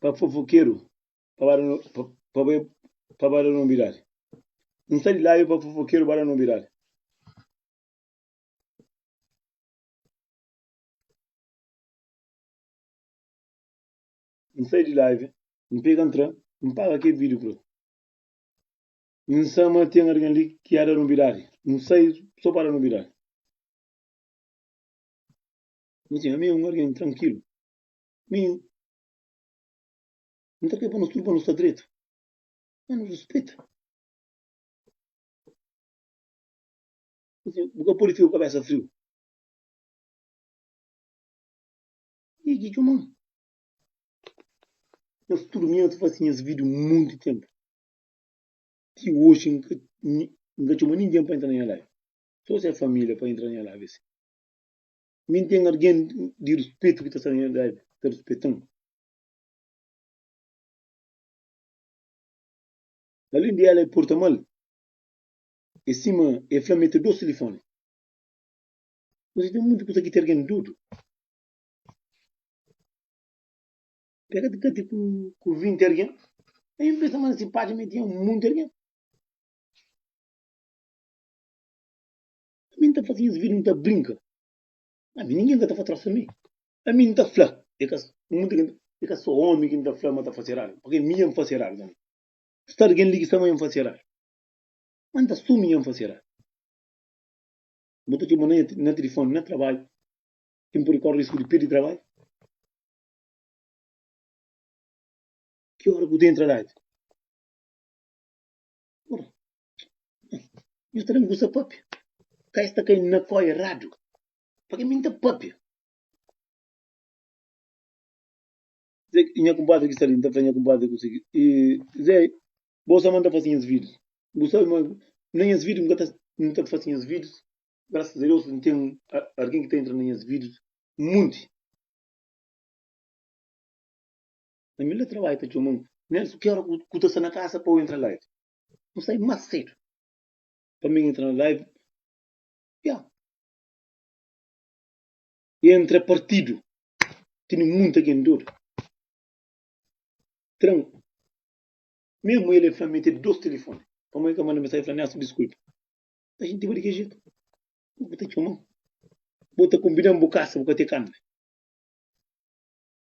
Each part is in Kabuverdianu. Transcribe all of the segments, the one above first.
Pa fofokeru pa ba da no, pa, pa ba, pa ba da nobidadi. N sta di ladu pa fofokeru ba da nobidadi. N sai di live, N pega N tra, N paga kel vídeo ku el. N sa ma ten algen li ki a da nobidadi. N sai so pa da nobidadi. N dizi, ami é un algen trankilu. Minho, N ta kre pa nos tudu pa nos ta dretu. Má nos rispita. Asin, bu ka pode fika ku kabésa friu. Igi txoman. Nhos tudu minha ta fase nhas vida monti ténpu. Ti oxi N ka, N ka txoma ningen pa entra na nha lar. Sô se família pa entra na nha lar, bese. Mi N ten algen di ruspetu ki ta sta na nha ladu, ki ta ruspeta-m. Alén di el, el porta mal. É sima el fla ma el ta da-u tilifóni. Kuzê ten monti kuza ki ten algen dudu. El ka ta kati ku vinti algen. El ben pensa ma na se pátria ma el tinha monti algen. Ami N ta faze nhas vidju N ta brinka Ami ningen ka ta fla trósa mi Ami N ta fla É ka mudi ken É ka so omi ki N ta fla ma ta fase eradu Pake mi dja N fase eradu tanbe Sta algen li ki sta ma dja N fase eradu Ma N ta sumi dja N fase eradu Bu ta txoma na na tilifoni na trabadju Ki N pode kóre risku di pirdi trabadju Ki óra ku ta entra ládju. Ora, nhos ta da-m gusa pâpia. Ka es ta kai na kó eradu, pa ke mi N ta pâpia? Zé, nha kunpadri ki sta li, N ta fla nha kunpadri ku sigi, e, Zé, bo sa ma N ta fase nhas vidus. N ku sabe ma na nhas vidus N ka ta, N ta fase nhas vidus. Grasas a Deus N ten algen ki ta entra na nhas vidus monti. Na mil da trabalhu ta txoma-m Nelson, ki óra ku ta sta na kasa pa u entra live? N sai más sédu pa mi entra na live, ya. I entra partidu, tene munta ken dodu. Tran, memu el el fla mi tene dos telefone, pamodi el ka manda mensagem fla Nelson diskulpa. N ta xintiba di ki jetu? Bo ki ta txoma-m, bo ta konbida-m bu kasa, bu ka te kanbe.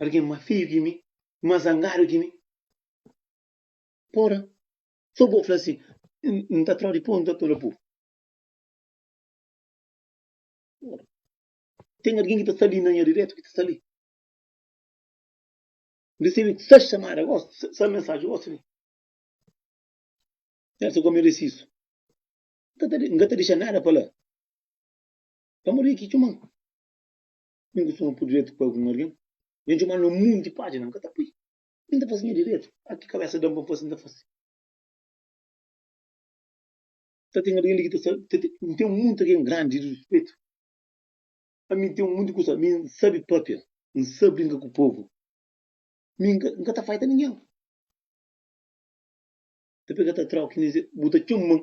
Algen más feio ki mi, más zangadu ki mi. Pora, so bo fla si N ta trodi po, N ta tola bu. Pora, ten algen ki ta sta li na nha diretu, ki ta sta li. N resebe ses xamada gosi, ses mensaji gosi li. N pensa gomi risisu. N ka ta dexa nada pa la. Pamodi ki txuman. N ta fla-m pudretu pa algun algen. Dja N txoma-l na un monti pájina, N ka ta pui. Mi N ta fase nha diretu. Â ki kabésa da-m pa N fase, N ta fase. Ta ten algen li ki ta sa, ta ten, N ten monti algen grandi di ruspetu. Ami N ten monti kusa, mi N sabe pâpia, N sabe brinka ku povu. Mi N ka, N ka ta faita ningen. Ta pega ta tra-u ki N ta izê, bu ta txoma-m.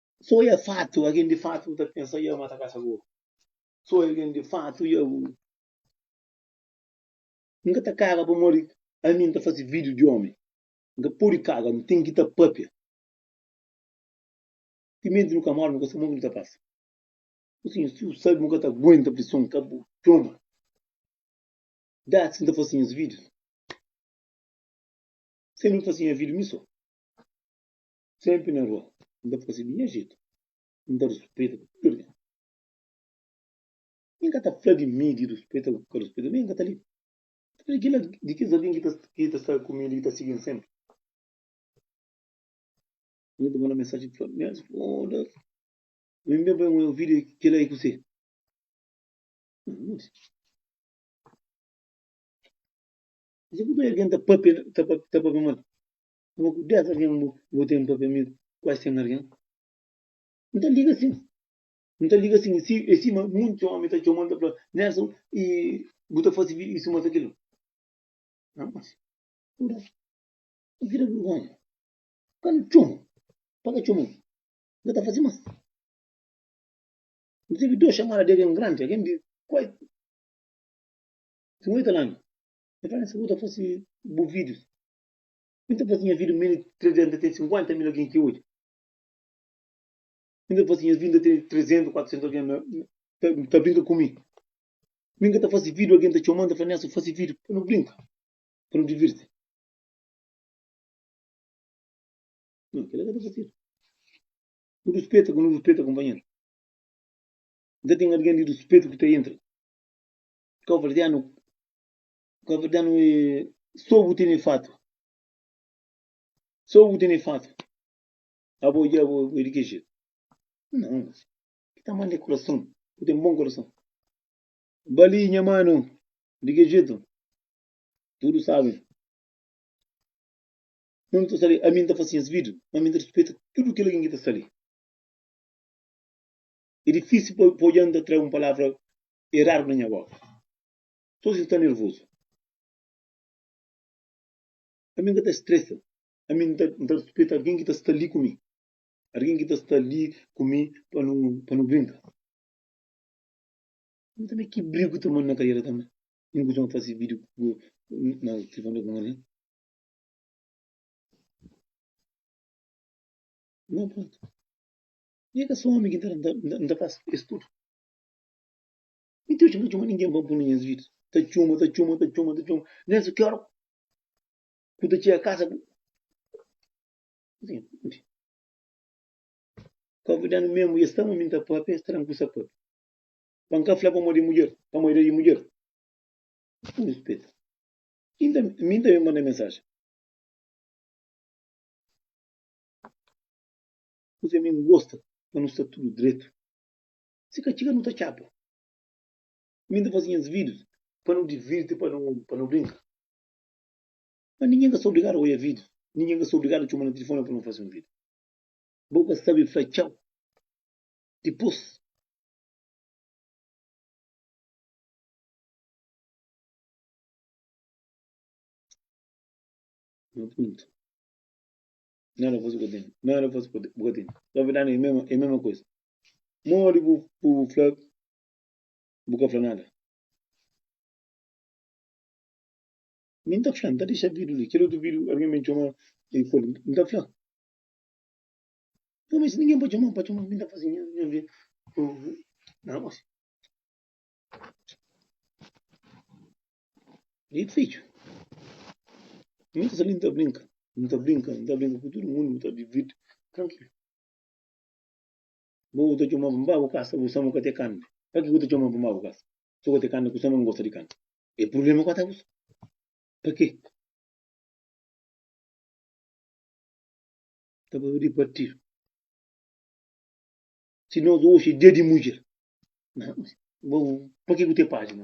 Sô e fatu, algen di fatu bu ta pensa Yahoo ma ta kasa bo? Sô e algen di fatu Yahoo N ka ta kaga pamodi ami N ta fase vídiu di ómi N ka pode kaga, nu ten ki ta pâpia Timenti nu ka móre, nu ka sabe mon ki nu ta pasa Ô sinha, si bu sabe, bu ka ta aguenta prison Ka bu txoma Datsi N ta fase nhas vídius Sen nu faze nha vídiu mi sô. Senpri na rua, N ta fase di nha jetu, N ta ruspeita ku tudu algen. Mi N ka ta fla di mi di ruspeita ku ka ruspeita, mi N ka ta liga. N ta fla di kila di kes algen ki ta sta ku mi li, ki ta sigi-m senpri. Algen ta manda mensajen fla-m, Mias Fódas, ben ben pa un vídiu ki la é kuse. N ta modi. N ta sibi purkê algen ta pâpia mal. Ama ku dés algen bu bu ten pâpia amigu ku es ten algen N ta liga sin N ta liga sin si e sima monti omi ta txoma-l ta fla Nelson i bu ta fase bi isu mata kil-la N mas ku dés i vira burgonha Kan N txoma-u pa ka txoma-u N ka ta fase mas N resebe dôs xamada di algen grandi algen di kuai sin oita lanu e fla Nelson bu ta fase bu vídius N ta faze nhas vida mil i trezentu atê sinkuenta mil algen ki odja. N ta faze nhas vida atê trezentu, kuatrizentu algen ta brinka ku mi. Mi N ka ta fase vídiu, algen ta txoma-m, N ta fla, Nelson, fase vídiu pa nu brinka, pa nu divirti. Nau, kel-la ka ta fasedu. Nu ruspeta ku nu ruspeta kunpanheru. N ka ten algen di ruspetu ki ta entra. Kau fla, Dianu, Ka bu da-nu e. Sô bu tene fatu. Sô bu tene fatu. Abo odja bo e di ki jetu? Nau, si. Ki tamanhu de kurason. Bu ten bon kurason. Ba li, nha manu. Di ki jetu? Tudu sabe. Nau nu ta sta li. Ami N ta fase nhas vidu. Má mi N ta rispeta tudu kel algen ki ta sta li. E difísil pa odja-m ta tra un palavra eradu na nha boka. Sô si ta nervozu. Ami N ka ta stresa. Ami N ta rispita algen ki ta sta li ku mi. Algen ki ta sta li ku mi pa nu pa nu brinka. Ami tanbê ki brigu ta manda na kariera tanbê. N kustuma fase vídiu ku na tilifoni ku un algen. Nau prontu. Mi ka sô omi ki N ta fase es tudu. Mi ta txuma txuma ningen pa punu nhas vida ta txuma ta txuma ta txuma ta txuma nesa ki ora ku ta txia kasa ku ka vida nu mesmo e stama mi ta pape e stama ku sa pape pa nka fla pa modi mudjer pa modi da di mudjer ku rispita inda mi ta mi manda mensaje kuse mi gosta pa nu sta tudu dretu Si ka txiga nu ta txapa. Mi N ta faze nhas vídius pa nu divirti, pa nu brinka. Má ningen ka sta obrigadu a odja vídius, ningen ka sta obrigadu a txoma na tilifóni pa nu faze un vídiu. Bo ka sabe fla txau dipôs. Nha puntu. Nada fosse por ti, nada fosse por ti. Só verdade é mesmo, é mesma coisa. Modi bu bu fla bu ka fla nada. Mi n ta fla, n ta dexa vídeo li. Kel otu vídeo algen ben txoma i pô-l. N ta fla. Pô, mi si ningen pa txoma-m, pa txoma-m, mi n ta faze nha nha vida. Nada más. Li ki fitxu. Mi ta sta li, mi ta brinka, mi ta brinka, mi ta brinka ku tudu mundu, mi ta divirti trankilu. Bu ta txoma-m pa bu kasa, bu sa-m ka te kanda. Pa ki bu ta txoma-m pa bu kasa? Si bu ka te kanda, ku sa nu gosta di kanta. É prubléma ku atabus. Pa ki? Ta ba di partidu. Si nos oxi é dia di mudjer, pa ki bu te pájina?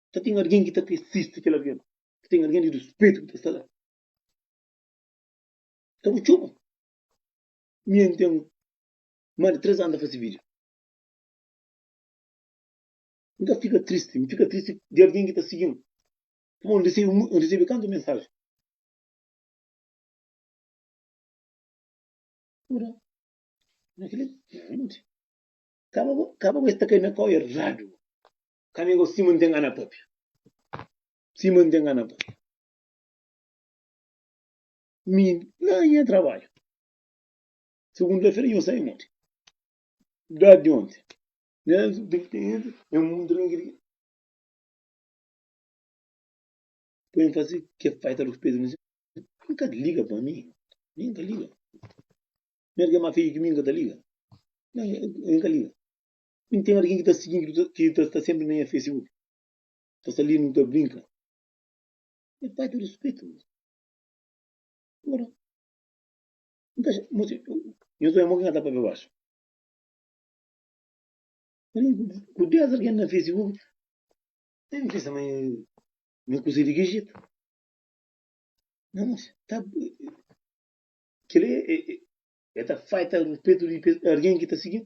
Ka ten algen ki ta ta insisti kel algen. Ka ten algen di rispitu ki ta sta la. Ka bu txoma mi. N ten más di três anu ta fase vídiu. N ka fika tristi. N fika tristi di algen ki ta sigi-m. Pamodi N resebe mui, N resebe kantu mensaji. Ora, na kel-li, kaba bo, kaba bo es ta kai na kau eradu. Ka mi gosi ma N ta ngana pâpia. Si ma N ta ngana pâpia. Mi, la na nha trabadju, segunta-fera, nho sai monti, da di onti, na subtinenti, nha mumi ta rinki di ki. Pa N fasi ke faita ruspetu na si. N ka liga pa mi. Mi N ka liga. Mer ke ma fiju ki mi N ka ta liga. N ka liga. N ten algen ki ta sigi-m, ki ta sta sénpri na nha facebook, ta sta li-m, nu ta brinka. Nha pai ta ruspetu-m. Óra N ta mostra nhos bai mon ki N ka ta pâpia baxu. Algen ku dés algen na facebook ta ben pensa ma nha kuza é di ki jetu. Nha mos ta kel-li el ta falta ruspetu di algen ki ta sigi-m.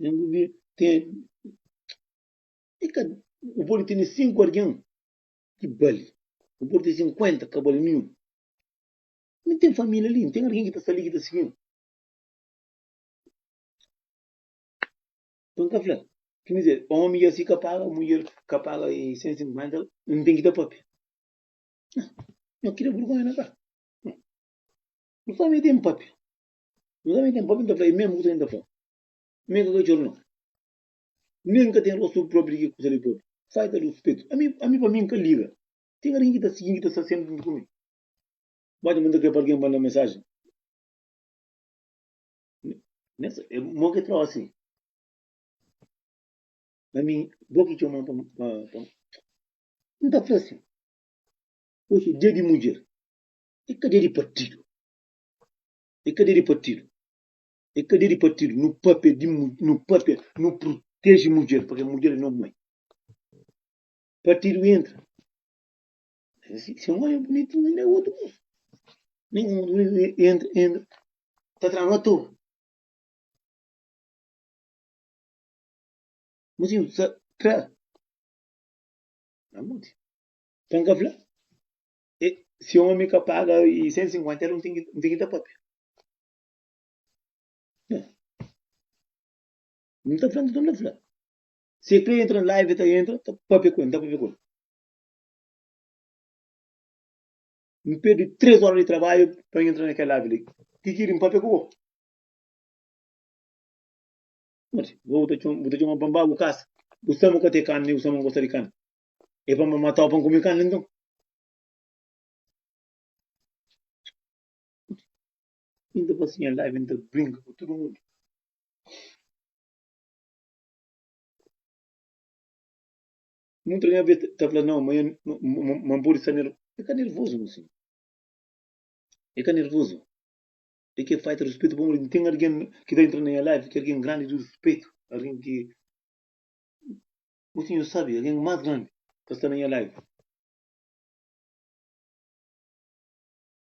Nen bu bi ten e ka bu pode tene sinku algen ki bali bu pode tene sinkuenta ka bali ninhun mi ten família li n ten algen ki ta sta li ki ta sigi-m pa n ka fla ki mi ser ómi i asi ka paga mudjer ka paga e sen sinkuenta n ten ki ta pâpia nha ki da burgonha na ka mi família ten pâpia Nhu tanbe ten pape ta fla, e mesmu kusa nen ta fla. Mi ka katxor no. Nen ka ten rostu propi di ki kusa li propi. Fai ta dus petu. Ami, ami pa mi nka liga. Ten algin ki ta sigin, ki ta sta senpri juntu ku mi. Ba ta manda kre pa algin manda mensaji. Nessa, é bom que trouxe. Mas mim, vou que chamar para. Não tá fácil. Hoje é dia de mulher. É que é dia de partido. E ka debe partidu. E ka debe partidu. No papia di mu, no papia, no proteje mudjer, pabia mudjer e no mãe. Partidu entra. Se un homem bonito, ainda é outro moço. Nem um homem bonito entra, entra. Tá travando à toa. Mas eu, tra. Não, muito. Então, E, si omi ka paga i 150 el un ten ki, un ten ki da papia. Não. Não está falando, não está Se ele quer entrar na live, está entra, tá papia com ele, tá papia com ele. Não perde três horas de trabalho para entrar naquela live ali. Que que ele papia com ele? Mas, vou botar uma bamba, o caça. O samu que tem carne, o samu gosta de carne. E pa mamá tau pa n kume kanda nton? I n ta pasinha la, i n ta brinka ku tudu mundu. Mutu di nha bês ta fla, Nau, ma N pode sta nervozu. E ka nervozu, meu senhor. E ka nervozu. E ki é falta di ruspetu, pamodi N ten algen ki ta intra na nha live ki é algen grandi di ruspetu, algen ki. Bu tinha sabe algen mas grandi ka sta na nha live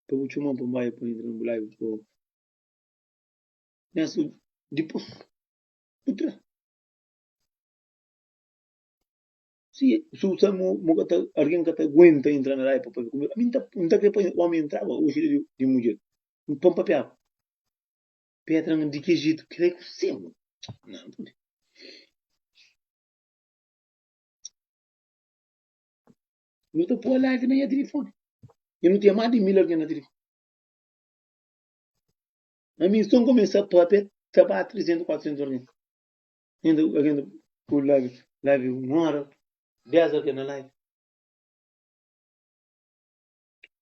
pa bu txoman pa nbai pa entra na bu live pa nhas dipus bu tra si su sa mo mo ka ta algen ka ta aguenta entra na live pa papia ku mi ami nta nta kre pa omi entraba oxi di mudjer pa papiaba Petra na di ke jeito krê ku semu. Nan pode. Nu ta pôr live na nha telefone. E nu tem más di mil alguém na telefone. A mim só começar a papia, tá para 300, 400 alguém. Ainda, ainda, o live, live uma hora, 10 alguém na live.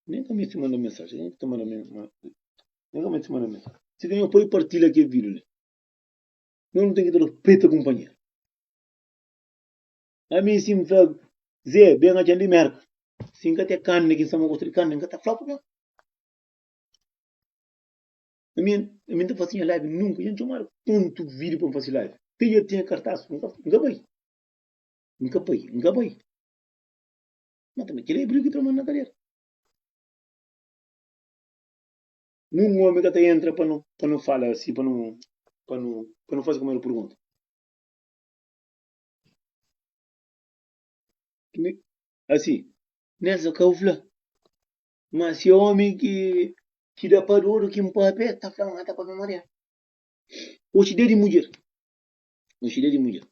Nem ka meti manda mensagem. Nem ka manda mensagem. Nem ka meti manda mensagem. Se tem apoio, partilha aqui vídeo. Né? Não, não tem que ter preta companheiro. A mim sim fala, Zé, bem a de merda. Sim que até carne, quem sabe gosta de carne, nunca tá fraco, né? A mim, a mim tá fazendo live nunca. Gente, tomara tanto vídeo para fazer live. Tem eu tenho cartaz, nunca, nunca vai. Nunca vai, nunca vai. Má tanbê kel ebriu ki tra mô-l na kadera. Nun ome ka ta entra pa nu, pa nu fala si, pa nu, pa nu, pa nu faze kel modi pergunta. Asi, Nelsa ka bu fla ma si é ome ki, ki da pa dôdu, ki npape, ta fla ma ta pape mariadu. Oxi da di mudjer, oxi da di mudjer.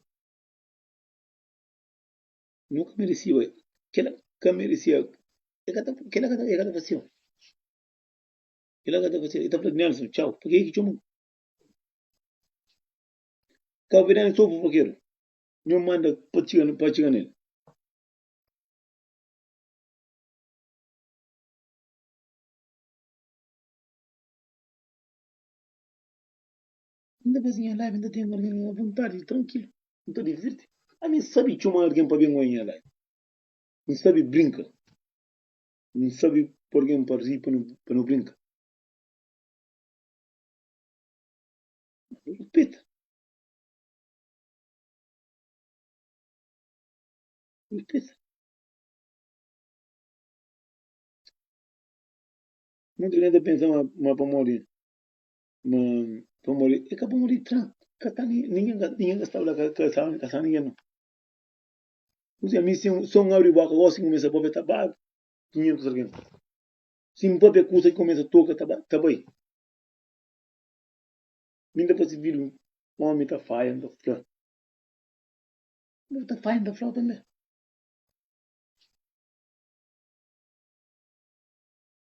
Nu ka meresiba kel-la. Ka meresia. El ka ta kel-la ka ta el ka ta fase-l. Kel-la ka ta fase-l. El ta fla, Nelson, txau. Pa ke ki txoma-m? Kau Bidani sta obi fakeru. Nho manda pa txiga pa atxiga nel. Inda pa nha live inda ten algen nha vontadi di trankilu n ta divirti ami n sabi txoma algen pa ben oi nha live n sabi brinka n sabi po algen pa ri pa nu brinka ripita ripita mutu algen ta pensa ma pamodi. ma pamodi e ka pamodi tran ka ta ninguém ka ninguém ka estava lá ka ka estava ka estava ninguém não você a mim sem som abre boca gosta de começar pop tá babe dinheiro que alguém sim pop é curta que começa toca tá tá bem mim dá para se vir homem tá falha tá flor tá falha tá flor também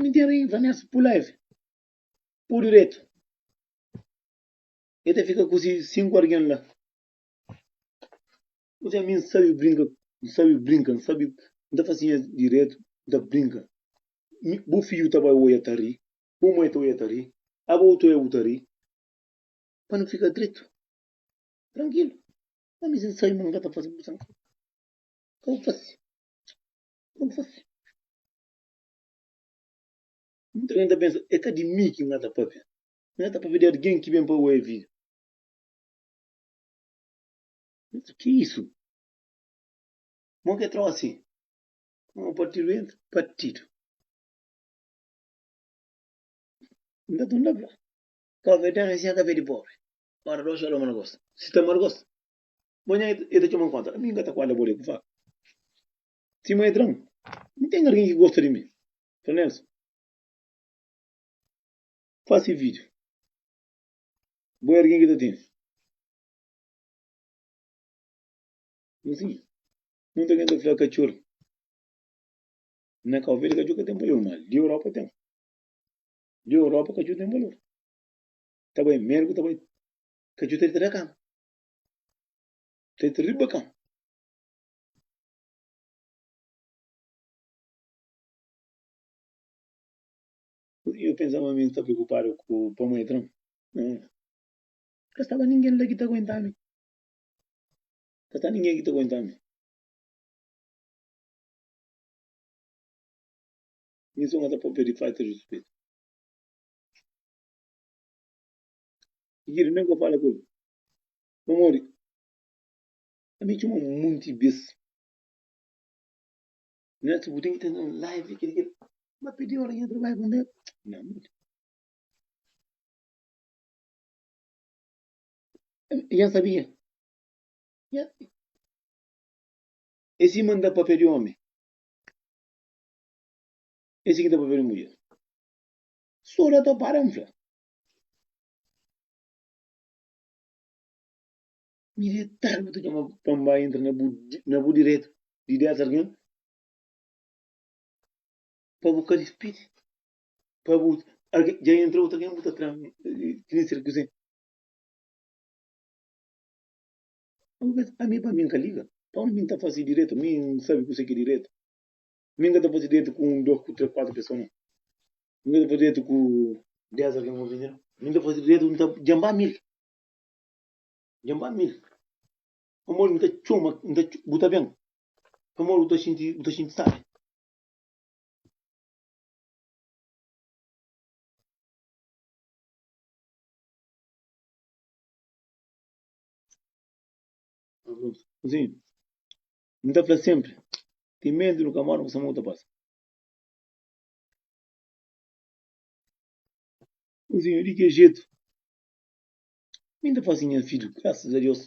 Mi ten raiva nes pu live pu diretu. E ta fika ku si sinku algen la. Kuzê mi n sabe brinka, n sabe brinka, n sabe n ta fasi nhas diretu, n ta brinka. Mi, bu fiju ta bai oja ta ri, bu mai ta oja ta ri, aba bu ta oja bu ta ri. Pa nu fika dretu, trankilu. Ma mi si n sabe ma n ka ta fasi, bu san ka bu fasi. Como fasi? N ta ben ta pensa, é ka di mi ki N ta pâpia. N ta pâpia di algen ki ben pa oi vida. N ta ki isu? Mo ke trosi? Mo partidu entra? Partidu. N ta tunda fla, kofé di risiá, kafé di pobri. Ora, doxi aloma na gosta. Si ta mal gosta, Manhã e ta txoman konta. Ami n ka ta kuada bole ku faka. Si mô e tran, n ten argen ki gosta di mi. Fran Nelson. Fasi vidiu. Bo e argen ki ta tene. N si, munta gen ta fla ka txor. Na Kau Verdi ka txor ka ten balor, ma li Europa ten. Li Europa ka txor ten balor. Ta bai mergu, ta bai ka txor ta dita da kama. Tê ta ri bakan. Yo pensa ma mi n sta preokupadu ku pa mô e tra-m. Ka staba ningen la ki ta aguenta-mi. Ka sta ningen ki ta aguenta-mi. Mi sô n ka ta pâpia di falta di ruspetu. Sigidu, N ka fala ku el pamodi el mi txoma monti bês. Next, Bu ten ki tenta un live di kel-li-kel. Má pidi óras ki N trabadja pa N da-l. Nha moti. I N sabia. Nha. Es sima N ta pâpia di ómi. Es ki ta pâpia di mudjer. Stória ta para, N fla. Militar bu ta txoma pa N bai entra na bu diretu di desa algen pa bu ka dispidi pa bu dja entra otu algen bu ta tra-m txeu ser kuzen ami pa mi N ka liga pa mi N ta fase diretu mi N sabe kuse ki é diretu. Mi N ka ta faze dretu ku un, dos, ku tres, kuatru pesoa nau. Mi N ka ta faze dretu ku des algen ofende nau. Mi N ta faze dretu, N ta djanba mil. Djanba mil. Pamodi N ta txoma, N ta txoma, bu ta ben. Pamodi bu ta xinti, bu ta xinti sabi. Asin. N ta fla sénpri, Ten medu, nu ka móre, nu ka sa ma bu ta pasa. Uzinhu, Di ki jetu? Mi N ta fase nha vídiu, grasas a Deus.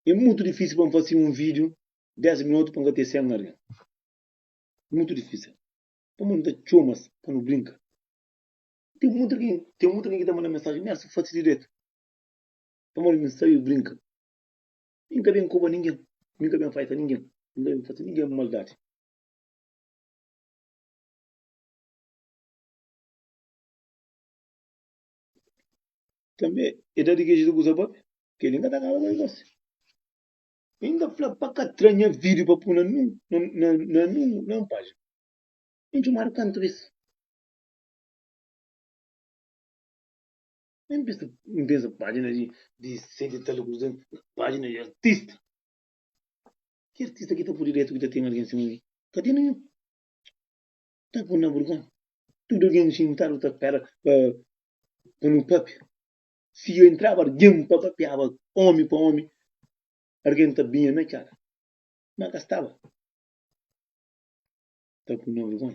É mutu difísil pa N fase un vídiu 10 minotu pa N ka ten 100 algen. Mutu difísil. Pamodi N ta txoma-s pa nu brinka. Ten mutu algen, ten mutu algen ki ta manda mensajen, Nérsia, fase diretu. Pamodi mi sabe brinka. Mi N ka ben koba ningen, mi N ka ben faisa ningen, mi N ka ben fase ningen maldadi. Tanbê, é dadi ki Jezus kuza bóbi, kel-li N ka ta kaba ku el gósi. I N ta fla, Pa ka tra nha vídiu pa pô-l na nun pájina. N txomadu kantu bês? N pensa, n pensa página di, di sente tal e kuza, página di artista. Ki artista ki ta pode dretu ki ta ten algen sima mi? Ka ten ninhun. Ta pun na burgon. Tudo algen xintadu ta pera pa, pa nu papia. Si eu entraba algen pa papiaba omi pa omi, algen ta binha na kela. Ma ka staba. Ta pun na burgon.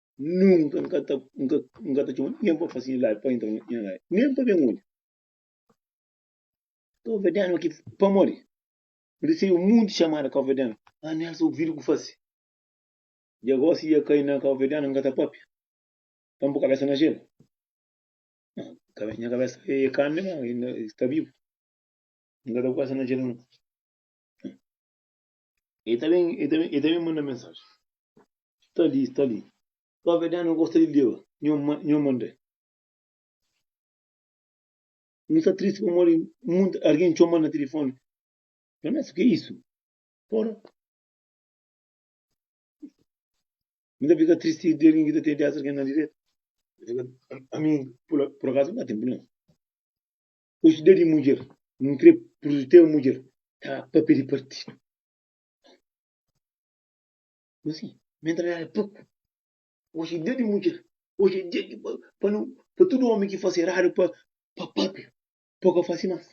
Nunka N ka ta, N ka, N ka ta txoma nen pa fase milagri pa intra na nha lari, nen pa ben odja. Kovadianu ki pamodi N resebe monti txamada kovadianu, amiasa ô vidu ku fase. Dja gosi dja kai na kovadianu N ka ta papia, pa N po kabesa na jelu. Nha, nha kabesa e kame la, e sta bibu. N ka ta po kabesa na jelu no. E ta ben, e ta ben, e ta ben manda mensaji. Sta li, sta li. Ba verdadi no gosta di leba nho ma, nho mandé. No sta tristi pamodi munt argen txoma na tilifoni. Ernesto, ke isu? Pora. Mi ta fika tristi di argen ki ta ten dés argen na direta. Ami, pula, pur akazu, mi ka ten prublema. Ojda di mudjer, nu kre prutete mudjer ka papia di partido. Kuma si? Mentalidade é pouco. Hoje é dia de mulher. Hoje é dia de para não para todo homem que faz errado para para papia. Pouco faz mais.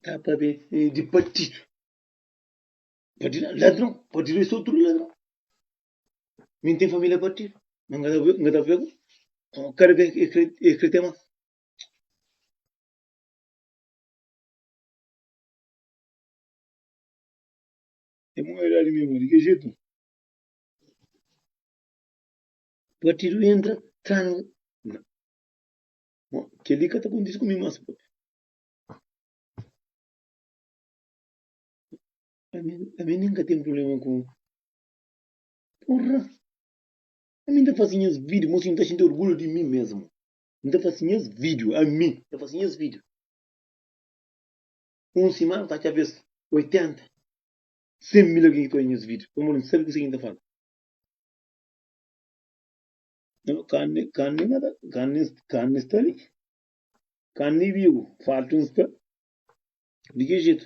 Tá para de partido. Partido ladrão, partido é só tudo ladrão. Mi n ten família partidu, ma n ka ta pega kada bes e krê ten más. É mau idadi mesmo, de que jeito? Partido entra, tranga. Não. Bom, que ali que tá acontecendo comigo mais. A mim, a mim nunca tem problema com Porra! Ami ta fasi nhas vídeo, mo si N ta xinti orgulhu di mi mesmu. N ta fasi nhas vídeo, ami ta fasi nhas vídeo. Un simana ta atxa bes 80, 100 mil algen ki ta odja nhas vídeo, pamodi N sabe kuzê ki N ta fala. Karni, karni mata, karni, karni sta li, karni bibu, fartu N sta. Di ki jetu?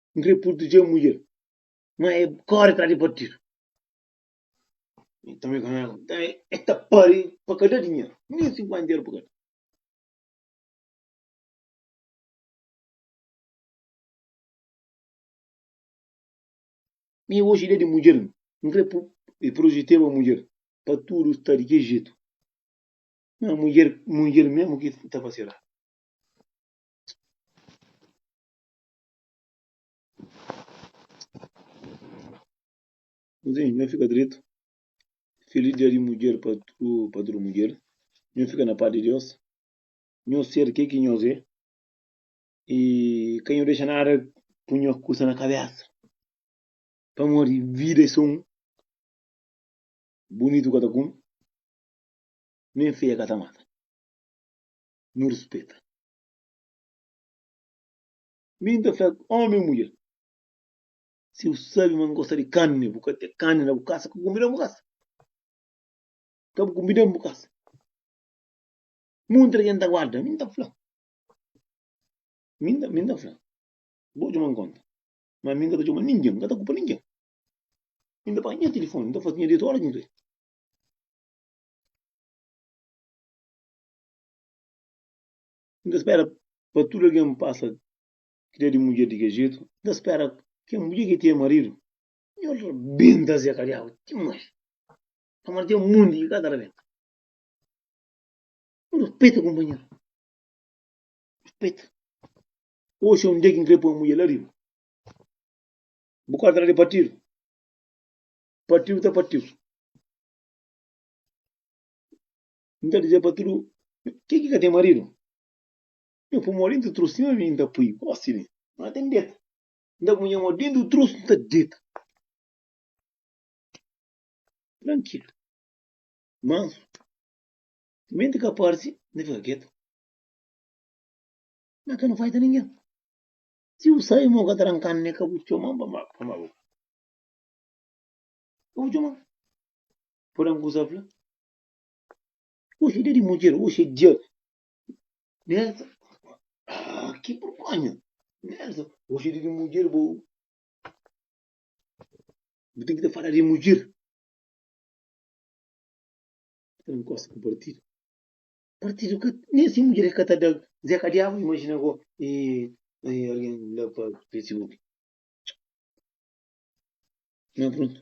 N krê purtudjê mudjer, má el kóre tras di partidu. Nton, el ta pâria pa ka da dinheru, nen sinkuénta eru pa ka da. Mi oji da di mudjer, N krê purtudjeba mudjer, pa tudu sta di ki jetu. Má mudjer mudjer mésmu ki ta fase eradu. Nhu nhu fika dretu. Feliz dia di mudjer pa tu pa tudu mudjer. Nhu fika na paz di Deus. Nhu ser ke ki nhos é i ka nhu dexa nada pui nhos kusa na kabesa pamodi vida é so un, bunitu ka ta kume, nen feia ka ta mata. Nhu rispeta. Mi N ta fla ómi ô mudjer, Si bu sabe ma N gosta di karni, bu ka ten karni na bu kasa, ka kunbida-m bu kasa. Ka bu kunbida-m bu kasa. Munti algen ta guarda? Mi N ta fla. Mi N ta, mi N ta fla. Bo txoma-m kónta. Má mi N ka ta txoma ningen, N ka ta kupa ningen. Mi N ta panha nha tilifóni, N ta faze nha dietu óras ki N krê. N ta spera pa tudu algen pasa ki da di mudjer di kel jetu. N ta spera kel mudjer ki tinha maridu. Nhô el rabenta se kadiabu dimais. Pamodi ten monti ki ka ta rabenta. Nu respeta kunpanheru. Respeta. Oxi é un dia ki N krê poi un mudjer la riba. Bu korda la di partidu. Partidu ta partidu. N ta dizê pa tudu ke ki ka ten maridu, Nhu pô mo dentu trus, sima mi N ta pui bo si mi N ka ten deta. N ta punha mo dentu trus, N ta deta trankilu, mansu, timenti ka parsi N ta fika ketu. N ka na faita ningen. Si bu sai mo ka trankanu ne ka bu txoman pa ma pa ma bu ka bu txoman. Pode un kusa fla. Oxe, dia di mudjer, oxe é dia. Nessa, ah, que vergonha. Nessa, oxe é dia de mudjer, bo. Bo tem que te falar de mudjer. Não gosto com partido. Partido que nem assim mulher é catada. Zé Cadiabo, imagina agora. E, e alguém lá para Facebook. Não, pronto.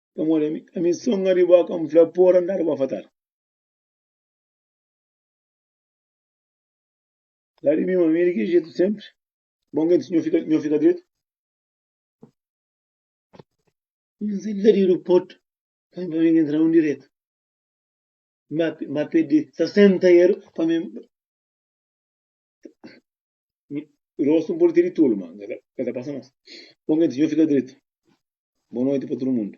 Pamodi ami, ami songa di bo, ka N fla, Por andadu bo fatal. Fla di mi ma, mi é di ki jetu senpri, bon gen ti, nho fika, nho fika dretu. N sai la di aeroportu, pa mi, pa mi entra un diretu. Ma, ma pedi 60 eru pa mi. Rosto um pode ter de tolo, ma ka ta passa nos. Pô nge diz, Nho fica dreto. Boa noite pa tudo mundo.